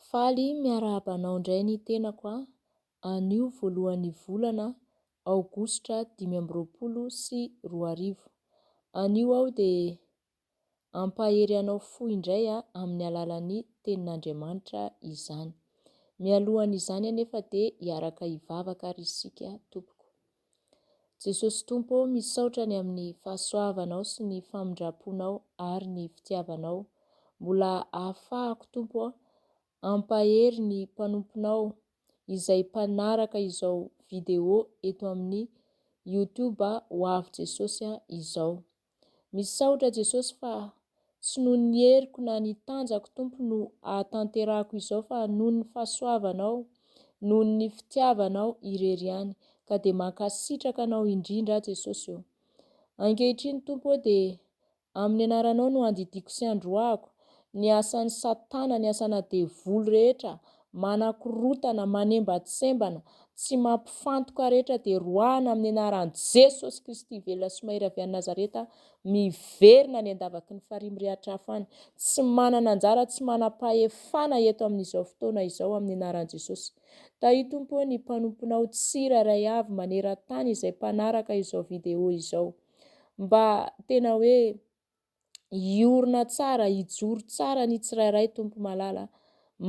Faly miarahaba anao indray ny tenako a! anio voalohan'ny volana aogositra dimy amby roapolo sy roa arivo. Anio aho dia hampahery anao fo indray a! amin'ny alalan'ny Tenin'Andriamanitra izany. Mialohan'izany anefa dia hiaraka hivavaka ary isika tompoko. Jesosy Tompo ô misaotra ny amin'ny fahasoavanao sy ny famindramponao ary ny fitiavanao mbola ahafahako Tompo ô ampahery ny mpanomponao izay mpanaraka izao vidéo eto amin'ny youtube hoavy Jesosy a izao Misaotra Jesosy fa tsy noho ny heriko na ny tanjako Tompo no ahatanterahako izao fa noho ny fahasoavanao, noho ny fitiavanao irery ihany ka dia mankasitraka anao indrindra Jesosy o! Ankehitriny Tompo o dia amin'ny anaranao no andidiako sy androahako ny asan'i satana, ny asana devoly rehetra Manakorotana, manembatsembana, tsy mampifantoka rehetra dia roahina amin'ny anaran'i Jesosy Kristy velona sy mahery avy any Nazareta miverina any an-davaky ny farihy mirehatra hafa any, tsy manana anjara, tsy manam-pahefana eto amin'izao fotoana izao amin'ny anaran'i Jesosy. Tahio Tompo ô ny mpanomponao tsirairay avy maneran-tany izay mpanaraka izao video izao. Mba tena hoe. hiorina tsara, hijoro tsara ny tsirairay Tompo Malala,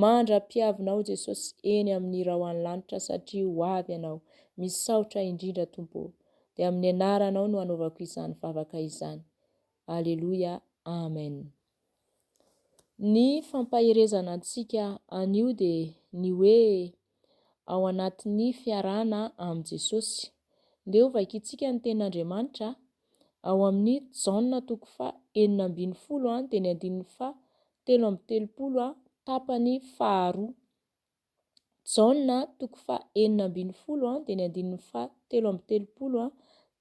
mandra-piavinao Jesosy eny amin'ny raoan'ny lanitra satria ho avy Ianao, misaotra indrindra Tompo ô, dia amin'ny anaranao no anaovako izany vavaka izany. Aleloia, Amen. Ny fampaherezana antsika anio dia ny hoe ao anatin'ny fiarahana amin'i Jesosy. Ndeha ho vakintsika ny tenin'Andriamanitra ao amin'ny Jaona toko faha enina ambin'ny folo a dia ny andininy faha telo amby telopolo a tapany faharoa. Jaona toko faha enina ambin'ny folo a dia ny andininy faha telo amby telopolo a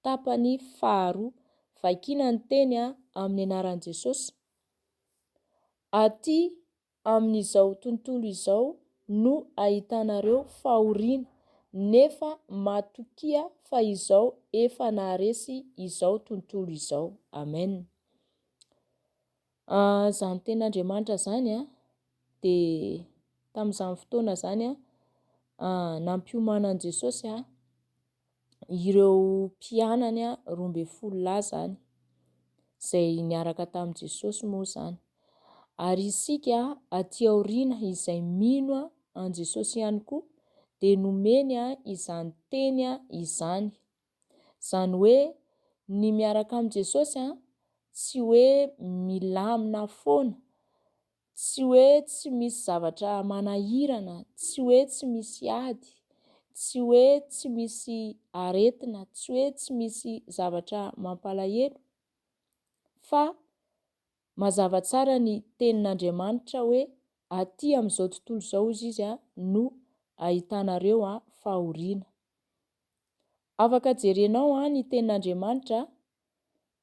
tapany faharoa. Vakiana ny teny a amin'ny anaran'i Jesosy. Aty amin'izao tontolo izao no ahitanareo fahoriana nefa matokia fa izao efa naharesy izao tontolo izao. Amen. An, izany tenin'Andriamanitra izany an, dia tamin'izany fotoana izany an, nampiomanan'i Jesosy an, ireo mpianany roa ambin'ny folo lahy izany, izay niaraka tamin'i Jesosy moa izany. Ary isika aty aoriana izay mino an'i Jesosy ihany koa dia nomeny izany teny izany. Izany hoe ny miaraka amin'i Jesosy tsy hoe milamina foana Tsy hoe tsy misy zavatra manahirana, tsy hoe tsy misy ady, tsy hoe tsy misy aretina, tsy hoe tsy misy zavatra mampalahelo, fa mazava tsara ny tenin'Andriamanitra hoe aty amin'izao tontolo izao hozy izy no ahitanareo fahoriana. Afaka jerenao ny tenin'Andriamanitra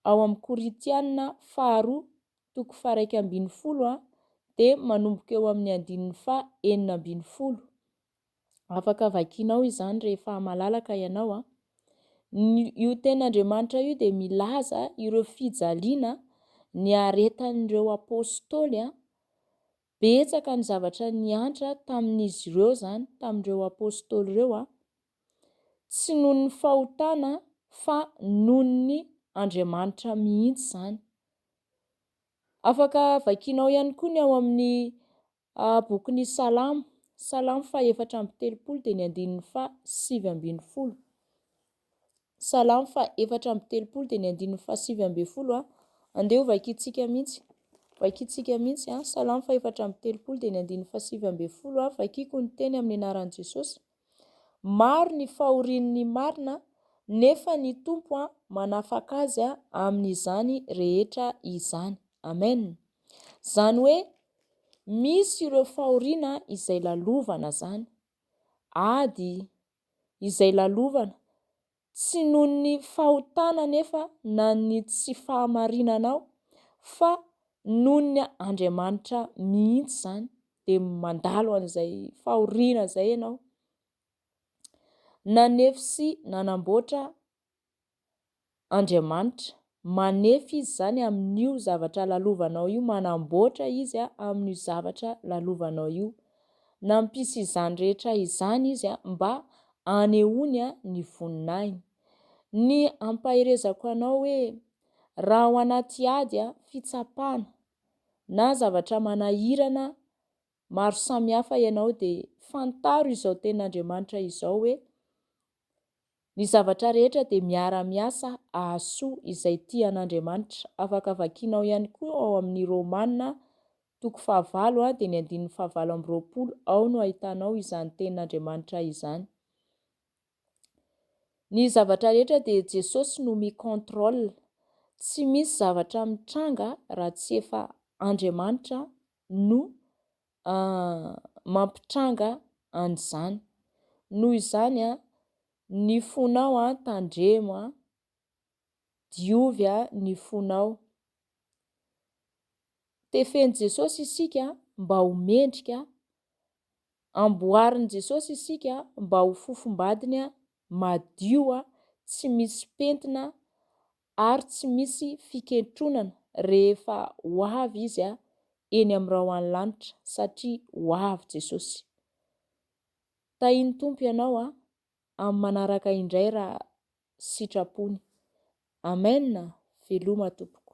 ao amin'ny Korintiana faharoa toko faharaika ambin'ny folo dia manomboka eo amin'ny andininy faha enina ambin'ny folo. Afaka vakianao izany rehefa malalaka ianao. Ny io ten'Andriamanitra io dia milaza ireo fijaliana niaretan'ireo apostoly. Betsaka ny zavatra niantra tamin'izy ireo izany, tamin'ireo apostoly ireo. Tsy noho ny fahotana fa noho ny Andriamanitra mihitsy izany. Afaka vakianao ihany koa ny ao amin'ny bokin'ny Salamo, Salamo faha efatra amby telopolo dia ny andininy faha sivy ambin'ny folo. Ny Salamo faha efatra amby telopolo dia ny andininy faha sivy ambin'ny folo a. Andeha ho vakintsika mihitsy. Vakintsika mihitsy a. Salamo faha efatra amby telopolo dia ny andininy faha sivy ambin'ny folo a. Vakiko ny teny amin'ny anaran'i Jesosy. Maro ny fahorian'ny marina nefa ny Tompo a manafaka azy a amin'izany rehetra izany. Amen. Izany hoe misy ireo fahoriana izay lalovana zany. Ady, izay lalovana, tsy noho ny fahotana anefa na ny tsy fahamarinanao fa noho ny Andriamanitra mihitsy izany, dia mandalo an'izay fahoriana izay ianao, nanefy sy nanamboatra Andriamanitra. Manefy Izy izany amin'io zavatra lalovanao io, manamboatra Izy amin'io zavatra lalovanao io. Nampisy izany rehetra izany Izy mba hanehoany ny voninahiny. Ny ampaherezako anao hoe, raha ao anaty ady, fitsapana, na zavatra manahirana maro samihafa ianao dia fantaro izao tenin'Andriamanitra izao hoe, Ny zavatra rehetra dia miara-miasa ahasoa izay tia an'Andriamanitra. Afaka vakianao ihany koa ao amin'ny Romana toko fahavalo dia ny andininy fahavalo amby roapolo, ao no ahitanao izany tenin'Andriamanitra izany. Ny zavatra rehetra dia Jesosy no mi-contrôle. Tsy misy zavatra mitranga raha tsy efa Andriamanitra no mampitranga an'izany. Noho izany, ny fonao tandremo, diovy ny fonao. Tefen'i Jesosy isika mba ho mendrika, amboarin'i Jesosy isika mba ho fofombadiny madio, tsy misy pentina ary tsy misy fikentronana rehefa ho avy izy a eny amrao any lanitra satria ho avy jesosy tahin tompo ianao a am manaraka indray ra sitrapony amen veloma tompoko.